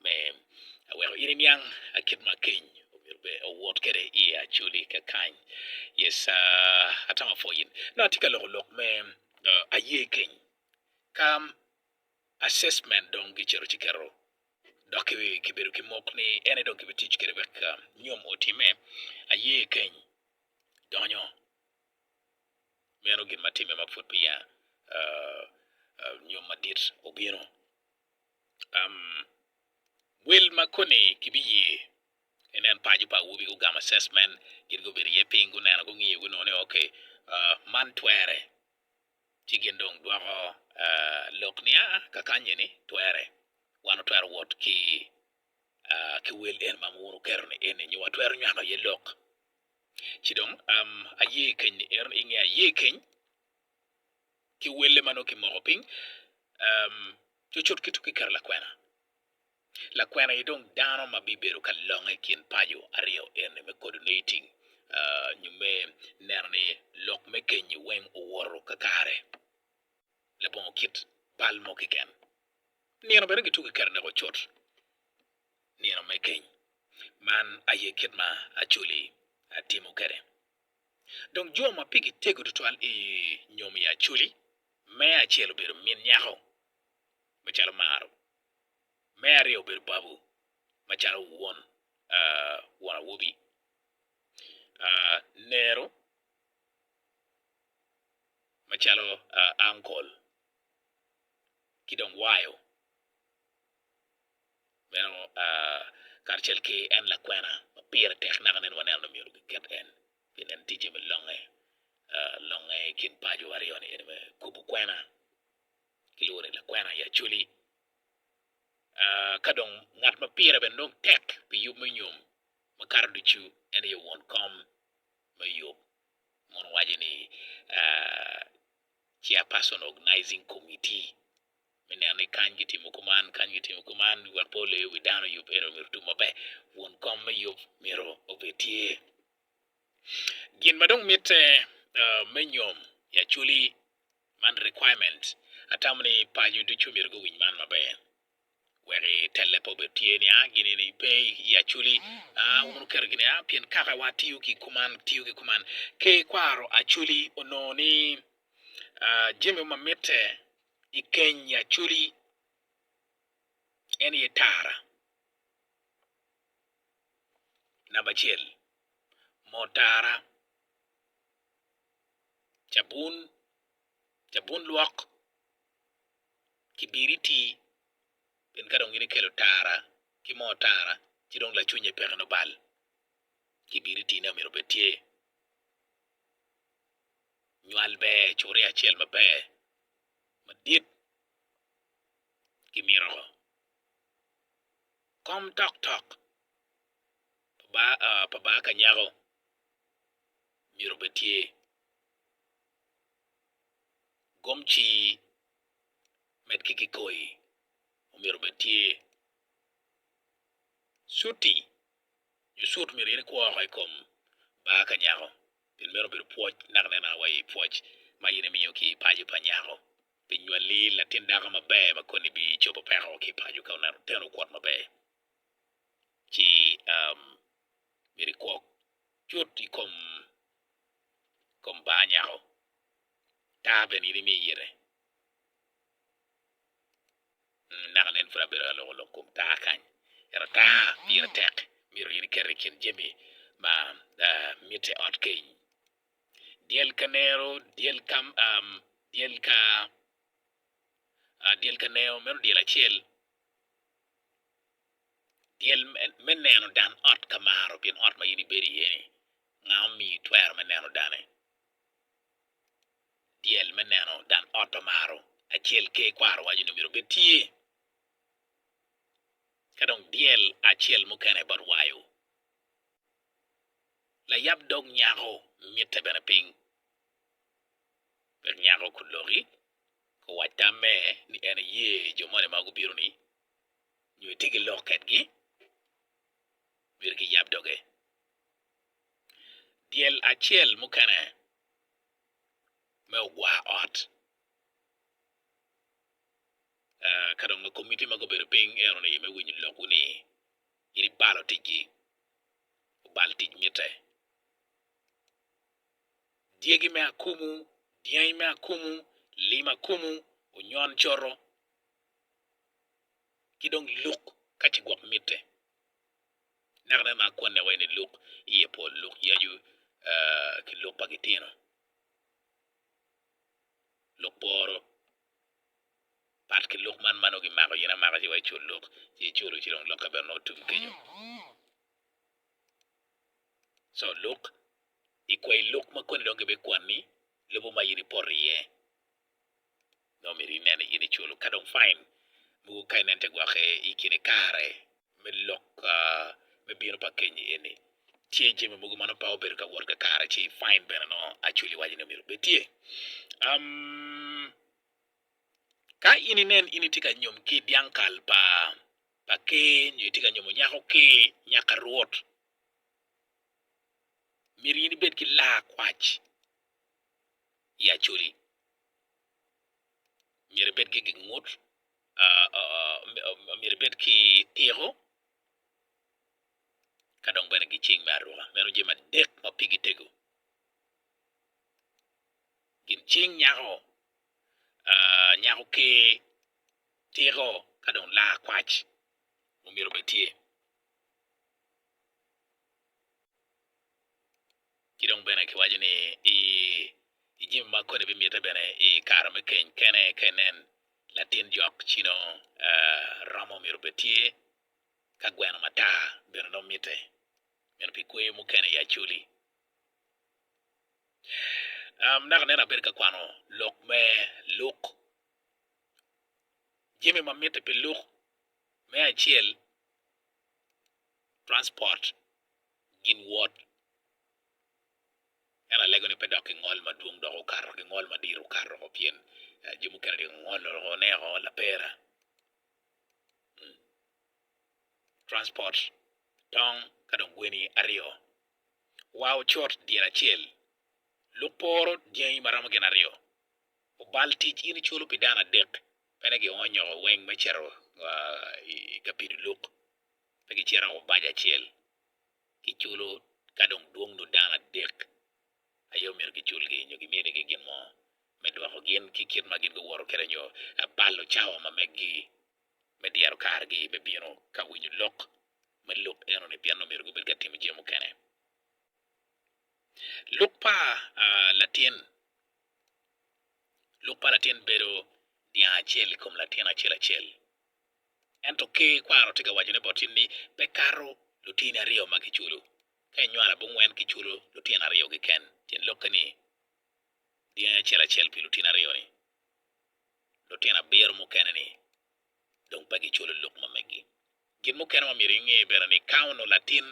me aweko in iniang kit ma keny omyero bed owot kwede i acoli kakany. Yes, ah, atamo apwoyi. Nongo atye ka loko lok me ah, aye keny. Ka assessment dong kicito ci kiketo dok ki- kibedo ki mok ni en aye dong kibitic kwede wek ah, nyom otimme, aye keny donyo. Meno gin ma timme ma pud peya ah, ah, nyom madit obino. Wil ma koni kibiye ginen paco pa awobi gugamo assessment gin gubedo iye piny guneno gungiyo gunongo ni ok man twere ci gin dong gwoko lok ni aa kakany eni twere wan watwero wot ki wel eni ma wun wuketo ni eni nyo watwero nywako iye lok ci dong aye keny ni eno inge aye keny ki welle ma nongo kimoko piny cutcut ki tuk i kare lakwena. Lakwena aye dong dano ma bibedo ka longe i kin paco aryo eni me coordinating nyo me neno ni lok me kenyo weng owoto kakare labongo kit bal mo keken. Nino bene kituko i kare neko cut, nino me keny. Man aye kit ma Acoli timo kwede. Dong jo ma pigi tego tutwal i nyom i Acoli, me acel obedo min nyako, macalo Maro, me aryo obedo babu, macalo won won awobi, Nero, macalo ankol, ki dong Wayo. meno karacel ki en lakwena ma pire tek naka nen waneno ni myero giket en pien en ticce me longe longe i kin paco aryo ni ene me kubo kwena kilwongo ni lakwena i Acholi ka dong ngat ma pire bene dong tek pi yub me nyom makato ducu en aye won kom me yub ma waco ni chair person organizing committee. me neno ni kany kitimo kuman, kany kitimo kuman, wek pe oleyo wi dano yub eno myero otum maber. Won kom me yub myero obed tye. Gin ma dong mitte uh, me nyom i acoli man requirement. Atamo ni paco ducu myero guwiny man maber wek itelle pe obed tye ni a gini ni pe i acoli a wun wuketo gini a pien kakawa tiyo ki kuman tiyo ki kuman ki kwaro acoli onongo ni ah, jami ma mitte I keny Acholi en aye tara namba acel. Moo tara, cabun, cabun lwok, kibiriti pien ka dong in ikelo tara ki moo tara ci dong lacwinye peke nongo bal, kibiriti ne omyero obed tye. Nywal ber coria acel maber madit ki miracle. Kom tok tok pa baa ka nyako myero obed tye. Gom ci med ki kikoi omyero obed tye. Cuti Nyo cut omyero in ikwo oko i kom bar ka nyako pien meno obedo pwoc naka nen naka wa i pwoc ma in imiyo ki i paco pa nyako pi nywali latin dako maber ma koni bi cobo peko ki i paco ka oneno oteno okwot maber ci myero ikwo cut i kom kom bar nyako tar bene in imiyo ite. Anaka nen pud abedo ka loko lok kom taa kany, ento taa pire tek myero gin ikete i kin jami ma mitte ot keny. Dyel ka nero, dyel ka dyel ka dyel ka nero meno dyel acel, dyel me neno dan ot ka maro pien ot ma in ibedo iye-ni nga omiyi twero me neno dane? dyel me neno dan ot omaro acel ker kwaro waco ni myero bed tye ka dong dyel acel mukene bot wayo layab dog nyako mitte bene piny wek nyako ku loki ku wac tam me ni en eye jo moni ma gubino ni nyo etye ki lok ketgi myero ki yab doge dyel acel mukene me ogwa ot ka dong ma komiti ma gubedo piny ento ni me winyo lokwu ni in ibalo ticci obal tic mitte dyegi me akumu, dyangi me akumu, lim akumu, onyon coto ki dong luk ka ci gwok mitte. Naka bene mar konne wa ni luk iye pol, luk yacu ki luk pa gitino, luk boro. Pat ki luk man ma nongo kimako gin amaka ci wa icul luk ci iculo ci dong lokke bene nongo tum kenyo. Co luk, ikwai luk ma koni dong gibikwanni lobo ma in ipoto iye. Nongo omyero inen ni in iculo ka dong fain mogo ka inen te gwokke i kine kare me lok me bino pa kenyi eni. Tye jami mogo ma nongo pe obedo ka wot kakare ci fain bene nongo acweli waco ni myero obed tye. Ka in inen in itye ka nyom ki dyang kal pa pa ker nyo itye ka nyomo nyako ker, nyaka rwot myero in ibed ki laa kwac. i Acholi myero ebed ki gin ngut myero ebed ki tiko ka dong bene gicing me aruka meno jami adek ma pigi tego. Gin cing nyako nyako ker, tiko ka dong laa kwac omyero obed tye. Ki dong bene kiwaco ni i i jami ma koni bimite bene i kare me keny kene ka inen latin jok ci nongo romo myero obed tye ka gweno matar bene nongo mitte meno pi kweyo mukene i Acholi. Naka nene abedo ka kwano lok me Luk, jami ma mitte pi Luk me acel transport. ginwot. Ento alego ni pe dok ki ngol madwong dok okato ki ngol madit okato woko pien jo mukene dok ongolo woko oneko lapera transport tong ka dong gweni aryo wa ocot dyere acel luk pe oro dyangi ma romo gin aryo obal tic in iculo pi dano adek pene gionyo weng me cito ka pido luk. pe gicito ango bac acel ki culo ka dong dwong nyo dano adek aye omyero ki culgi nyo ki mini gi gin mo me dwoko gin ki kit ma gin gu woto kede nyo balo cawa ma meggi me dyero kare gi me bino ka winyo lok me lok eno ni pien omyero gu bed ka timo jami mukene lok pa latin lok pa latin bedo dyang acel i kom latin acel acel. Ento ki kwaro tye ka wacone boti ni, Pe kato lutini aryo ma kiculo. Ka inywalo abongwen, kiculo lutino aryo keken. Tyen lokke ni, dyangi acel acel pi lutini aryo-ni. Lutino abiro mukene-ni dong pe giculo lok ma megi. Gin mukene ma myero inge bene ni, ka onongo latin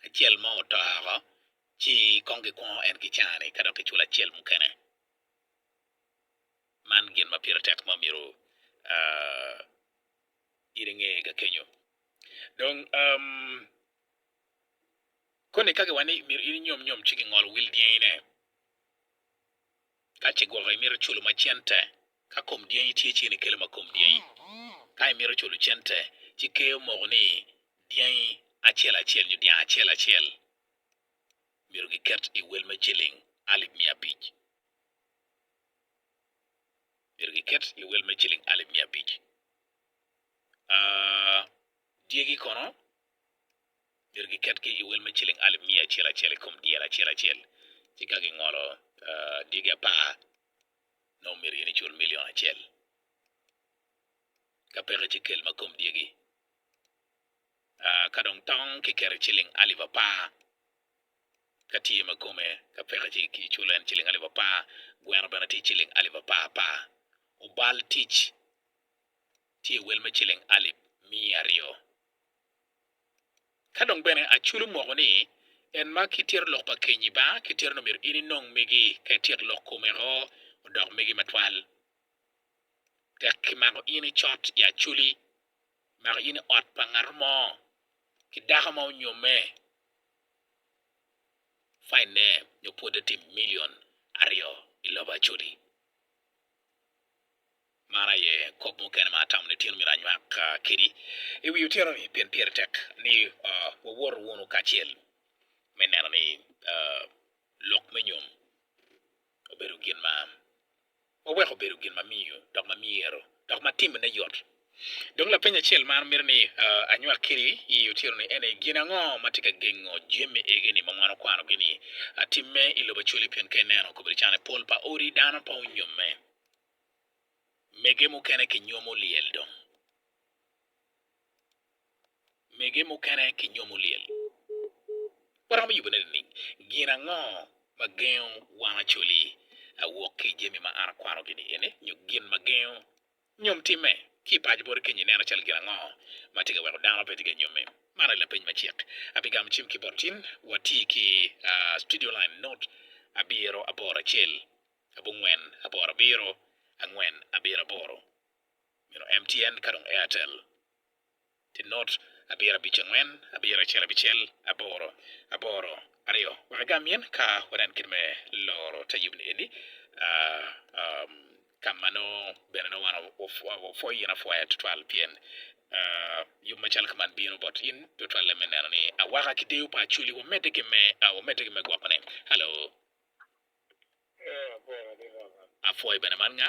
acel mo oto oko, ci kong gikwongo en ki caa-ni ka dok kiculo acel mukene. Man gin ma pire tek ma myero in inge ga kenyo. Dong, koni ka giwaco ni myero in inyom nyom ci gingolo wil dyengine. Ka ce gwoko imito culo ma cente, ka kom dyengi tye ci in ikelo ma kom dyengi. Ka imito culo cente, ci ker omoko ni dyangi acel acel nyo dyang acel acel myero giket i wel me ciling alip miya abic. myero giket i owel me ciling alip miya abic. Dyegi kono myero giket ki i owel me ciling alip miya acel acel i kom dyere acel acel, ci ka gingolo dyegi apar nongo myero gin icul milion acel. Ka peke ci kel ma kom dyegi. Ka dong tong kiketo ciling alip apar. Ka tye ma kome ka peke ci kiculo en ciling alip apar, gweno bene tye ciling alip apar apar. Obal tic tye wel me ciling alip miya aryo. Ka dong bene aculo moko ni en ma ki tito lok pa kenyi ba ki tito ni myero in inong megi ka ityek lok kome o odok megi matwal. Tek ki mako in icot i acoli, mako in i ot pa ngato mo ki dako ma onyomme Fainne nyo pwodde tye milion aryo i lobo Acholi. Man aye kop mukene ma atamo ni Tino myero anywak kedi i wi otyeno-ni pien pire tek ni wawoto wunu kacel me neno ni lok me nyom. obedo gin ma am. Wawek obedo gin ma miyo dok ma myero dok ma timone yot. Dong lapeny acel ma an mito ni anywak kwedi i otyeno-ni en aye, Gin ango ma tye ka gengo jami egi-ni ma wan wakwanogi-ni timme i lobo Acwali? Pien ka ineno i kabedo cani, pol pa odi dano pe onyomme, mege mukene kinyomo lyel dong. mege mukene ki nyomo lyel. Waromo yubone nining? Gin ango ma gengo wan Acholi awok ki i jami ma an akwarogi ni eni nyo gin ma gengo nyom timme? Ki i paco boti kenyo ineno calo gin ango ma tye ka weko dano pe tye ka nyomme? Man aye lapeny macek. Abi gamo cim ki bot tin wati ki Studio Line Note abiro aboro acel abongwen aboro abiro angwen abiro aboro meno MTN ka dong Airtel. Tinot abiro abic angwen abiro acel abicel aboro aboro aryo wek agam in ka wanen kit me loro te yub ni eni ka ma nongo bene nongo wan wapwoyo in apwoya tutwal pien yub macalo ka man bino bot in tutwalle me neno ni awaka ki deyo pa Acholi wamedde ki me wamedde ki me gwokone alo apwoyo bene man nga?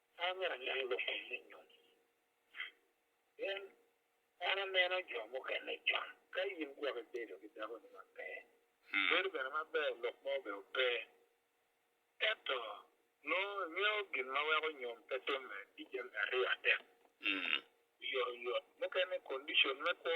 Ka me aneno lok eni me nyom, pien an aneno jo mukene can. Ka in gwok ibedo ki dakoni maber, bedo bene maber lok mo bene pe. Ento nongo ingeyo gin ma weko nyom pe timme ki jami aryo adek, oyotoyot mukene, kondicon me kwo,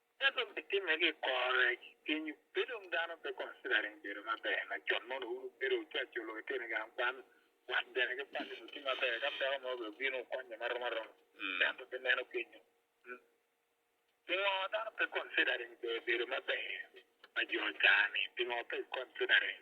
Ka dong kitimme ki i kor rec kenyu, pe dong dano pe considering bedo maber. Lacon mono wun wubedo wucac oloko iteni gang kwan, wat bene ki pali ni wutye maber, ka peko mogo bene wubino wukonye ma rom aroma. Ento pe meno kenyu. Pingo dano pe considering bedo maber pa jo caa-ni? Pingo pe considering?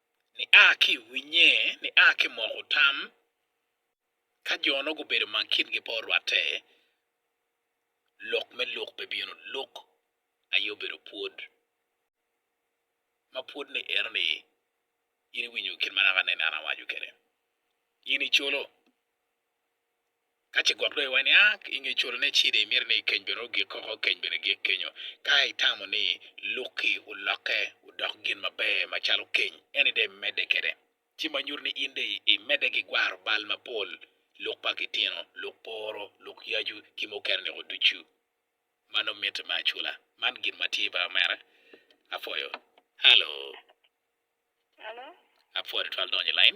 Nia ki i winnye, nia ki i moko tam, ka jo nongo gubedo ma kingi pe orwatte, lok me lok pe bino, lok aye obedo pwod, ma pwod ni eno ni, in iwinyo kit ma naka aneno an awaco kwede, in icolo. Ka ce gwok dong iwaco ni, aa, i nge cwalo ne cida imito ni keny bene ogik koko, keny bene gik kenyo. Ka itamo ni lukki olokke odok gin maber macalo keny, eni dong imedde kede, ci ma nyuto ni in dong imedde ki gwaro bal mapol, luk pa kitino, luk poro, luk yacu ki mukene niko ducu. Man dong mitte me acula. Man gin ma tye ba mere. Apwoyo. Hello. Hello. Apwoyo tutwal donyo i lain.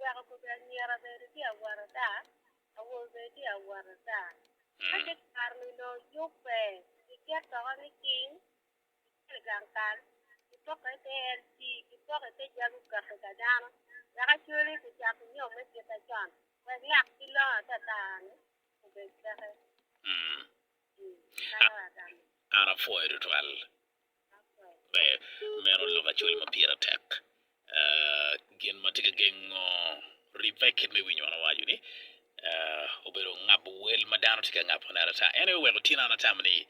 Wek okobe anyira bene tye awot ada, awobe bene tye awot ada. Ka ce kare-ni onongo yubbe, kiket toka ni cing, kicel i gang kal, kipoko i te LG, kipoko i te jabu kaki ka dano, wek acwele i kucako nyom me kite acon, wek lak ki longo atata-ni obed keke. Kadi wek agamo. An apwoyo tutwal. Meno lok acol ma pire tek. Gin ma tye ka gengo ribbe kit me winyo man owaco ni obedo ngabo wel ma dano tye ka ngabone adada. En aye oweko tyena an atamo ni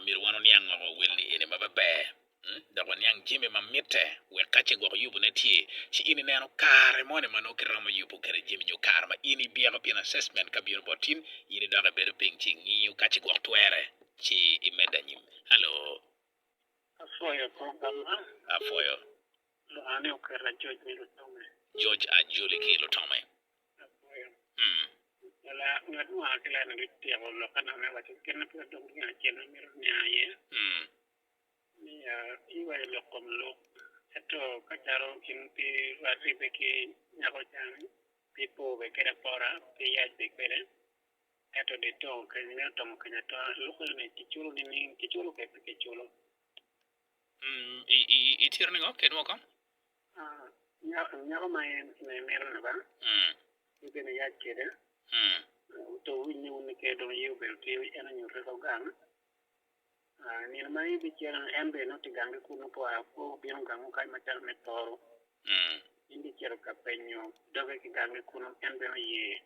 myero wan waniang woko wel ni eni ma pe ber dok waniang jami ma mitte wek ka ce gwok yubone tye ci in ineno kare moni ma nongo kiromo yubo kwede jami nyo kare ma in ibyeko pien assessment ka bino bot in, in idok ibedo piny ci ingiyo ka ce gwok twere ci imedde anyim. Hello. Apwoyo program man. Apwoyo. Lwongo ni oket ajoc me lutome. Joc ajoli ki lutome. Apwoyo. Mm. Lala, ngat mo aa ki lane bityeko lok ena me waco gin ma pud dong gin acel ma mito niang iye. Mm. Ni ya, iwaco lok kom lok. Ento ka calo in pe rwat ribbe ki nyako cani, pe po be kede apora, pe yac be kede. Ento di to keny me otomo keny ata loko ni ki culo nining? Ki culo kek pe ki culo. Mm, i tiro ningo kit woko? Nyako, nyako ma en me mito ni ba? Mm. Ni bene yac kede? Mm. To winy ni wun ni kede dong ye obedo tio, en onyuto ka gang? Nino ma i bicel en bene nongo tye gangi kun nongo oa kwo obino gang mo kany macalo me Tooro. En bicito ka penyo doge ki gangi kunu en bene oye.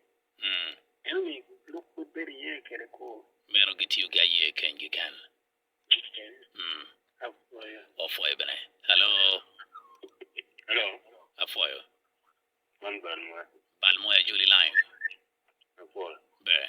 Enoni lwak pud bedo iye kede kwo. Meno gitiyo ki aye keny ki ken. Apwoyo. Opwoyo bene. Hello. Hello. Apwoyo. Man bal moya. Bal moya joli line. Apwoyo. Ber.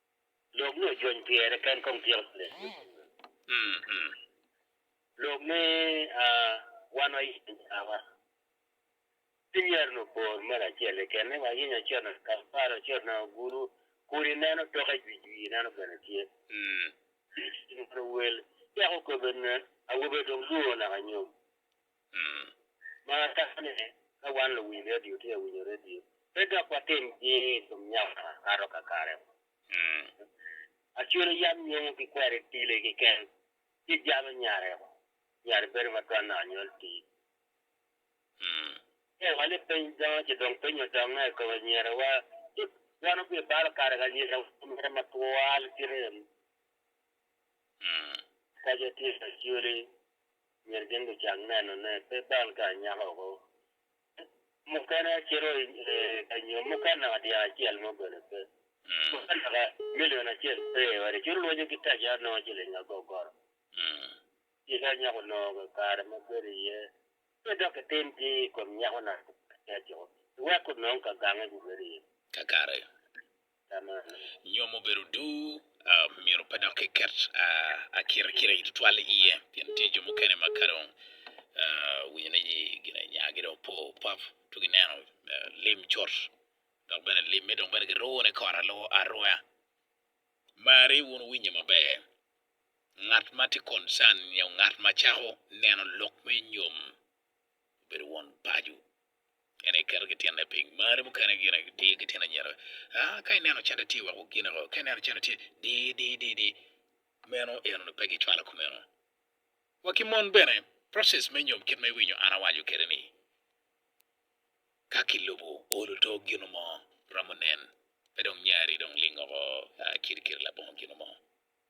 Lok me ojony pyere ken kong tyeko tek me pwonyo lok me wan wayenyo cawa. Ci myero onongo bor mere acel kekene, wayenyo acel nanga Kampala, acel nanga Ogulu, kun ineno toke jwijwi ineno bene tye. Wel cako kobbe awobe dong lwor naka nyom. Marane, ka wan luwiny redio tye ka winyo redio, pe dok watim jing i kom nyako ma kato kakare. Acwelo yam nyongo ki kweri tili kiken, ci jalo nyare nyare bedo ma twanne anyol tii. Ee, wali piny dongo ci dong piny odonge i kom anyerewa, ci wan obibalo kare ka anyerewa omere matwal kite. Kace tye acholi, myero gin gucang nenone, pe bal ka anyaka oko. Mukene acito ka nyom, mukene naka dyang acel mo bene pe. Mukene naka milion acel pe i ode, cwiny lwonyo ki taci anongo ciling agogoro. Tika anyaka onongo kakare ma bedo iye? Pe dok itim ki i kom nyako naka aciko, iwek onong kagange gubedo iye. Kakare. Nyo mubedo duu, myero pe dok kiket akirikiri tutwal iye, pien tye jo mukene ma ka dong winyo ni ginanyagi dong opo pap ci gineno lim cut dok bene limme dong bene giruwo ni kore aruwa. Mari wun winyo maber, ngat ma tye concern nyo ngat ma cako neno lok me nyom obedo won paco. En aye keto gitinne piny. Marri mukene gin aye diyo gitin anyira. Ah, ka ineno cente tye wek wugine woko, ka ineno cente tye di di di di, meno enoni pe gicwalo kumeno. Wa ki mon bene, process me nyom kit ma iwinyo an awaco kwede ni, ka kilubo olo to gino mo romo nen pe dong nyari dong lingo woko kiri kiri labongo gino mo.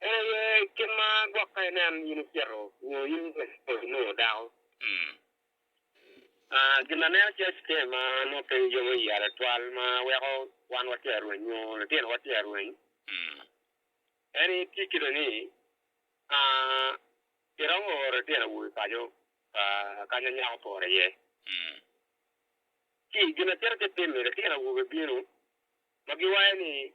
En aye kit ma gwokke nen in icito nyo in inongo dako. Gin ma aneno calo citem ma nongo pe yomo iya tutwal ma weko wan watye ka rweny nyo litinowa tye ka rweny en aye tye kit ni iromo oro litino awobe paco kanya nyako opore iye. Ci gin ma cito ki timme litino awobe bino ma giwaco ni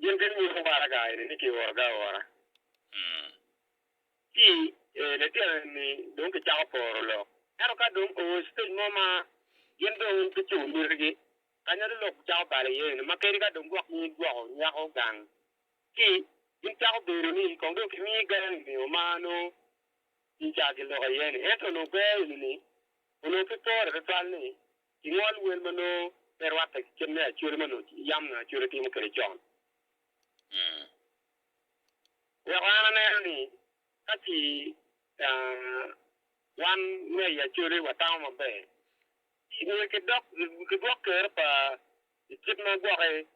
Gin bino nyuto waraga eni ni kiorogi aora. Ci litino eni dong gicako poro lok. Ento ka dong oo i citej mo ma gin dong gicubo mitigi, ka nyo ni lok cako balo iye eni, ma kadi ka dong gwokgi gwoko nyako gang, ci gin cako bedo ni kong dong kimiyi ger i nio ma nongo gica giloko iye-ni. Ento onongo ger eni-ni onongo pe pore tutwal ni ki ngol wel ma nongo pe rwatte ki kit me acwale ma onongo yam nyo acwale timo kwede con. Weko an aneno ni ka ci wan me i acwale watamo maber, ci nyo kidwok kero pa i kit ma gwoki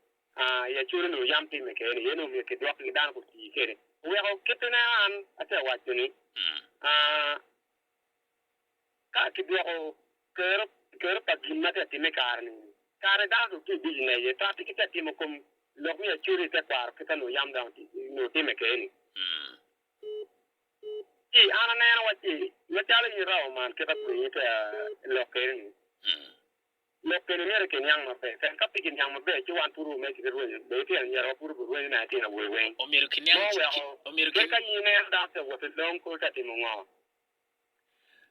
i acwale onongo yam timme kwede-ni aye dong myero kidwok ki dano gutii kwede. Oweko kit ineno an ate waco ni Ka kidwoko kero, kero pa gin ma tye ka timme i kare-ni, kare dano dong tye i biciness aye, to atika itye ka timo kom lok me acoco i te kwaro kit ma nongo yam dano onongo timme kene-ni? Ci an aneno, wacci, macalo in irabo man, kit ma pwonyi tye ka lok kene-ni. Lok keni myero i giniang maber, pien ka pe giniang maber ci wan pud wumeg ki rwenyo, be itino anyira wa pud oburwenyo me atino awobe weng. Omyero kiniang, Mo weko omyero pe ka in ineno dano pe wot i long kor ta timo ngo?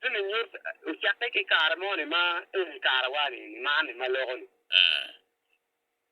Ci ni nyut ocakke ki kare mo ni ma eni kare wa ni, ni man ni ma loko ni.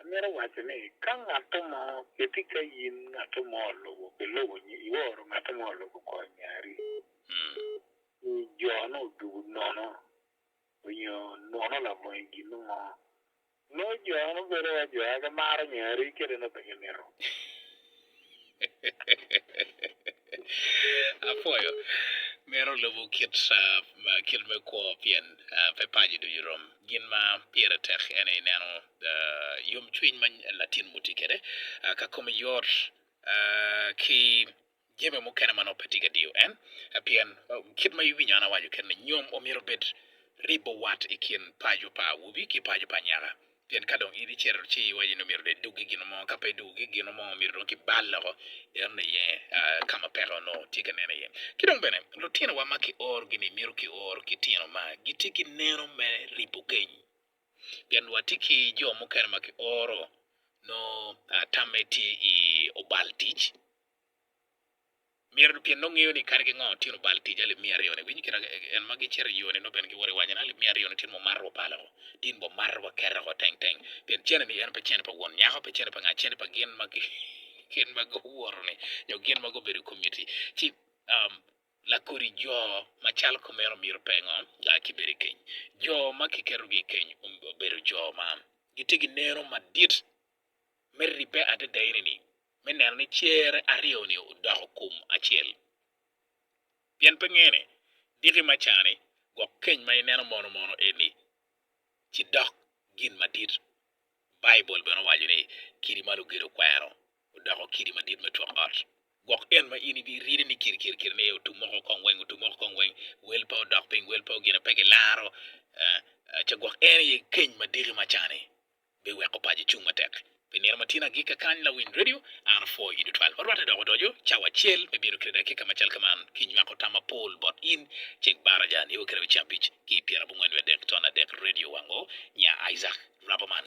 Amito waco ni ka ngatto mo keti ka in ngatto mo olubo ki lubo nyo ioro ngatto mo olubo kor nyari nyo jo nongo odubu nono nyo nwono labongo i gin mo nongo jo nongo bedo waco aye gimaro nyari kadi nongo pe gimito. Apwoyo. Meno lubo kit me kwo pien pe paco ducu rom. Gin ma pire tek ene ineno yomcwiny ma latin mo tye kwede ka kome yot ki jami mukene ma nongo pe tye ka diyo en. Pien kit ma iwinyo an awaco kwede-ni, nyom omyero obed ribo wat i kin paco pa awobi ki paco pa anyaka. Pien ka dong in icito ci iwaco ni omyero dong idug ki gin mo, ka pe idug ki gin mo myero dong ki bal loko eno aye ka ma peko onongo tye ka nen aye. Ki dong bene lutinowa ma ki orogi ni myero ki or ki tino ma gitye ki neno me ripo keny, pien wa tye ki jo mukene ma ki oro nongo tamme tye i obal tic. Myero lutyen nongo ngeyo ni kadi ki ngo tyen obal tic alip miya aryo ni, winyo kit ma en ma gicito i yo ni nongo bene giwoto i wacane, alip miya aryo ni tyen ma omato wa palo, tin bo mato wa kete oko teng teng, pien cene ni en pe cene pa won nyako, pe cene pa nga, cene pa gin ma gin ma guwoto ni nyo gin ma gubedo i community ci lakodi jo ma calo kumeno myero pe ngo ga ki bedo i keny, jo ma ki keto gi i keny obedo jo ma gitye ki neno madit me ribbe adada eni ni me neno ni cer aryo-ni odoko kum acel. Pien pe ngene, diki ma cani, gwok keny ma ineno mono mono eni ci dok gin madit. Baibul bene owaco ni, Kidi ma lugedo kwero odoko kidi madit me twok ot. Gwok en ma in ibirine ni kir kir kir ni otum moko kong weng, otum moko kong weng, wel pe odok piny, wel pe ogine, pe gilaro, ee, ee, ce gwok en aye keny ma diki ma cani. biweko paco cung matek. Pi nino ma tin agikka kany lawiny redio an apwoyo in tutwal. Wa rwatte dok odoco cawa acel me bino kede dakika macal ka man ki nywako tam mapol bot in ceng baraja nio kede me ceng abic ki pyera abongwen wiye adek ton adek redio wango nya Isaac Rabaman.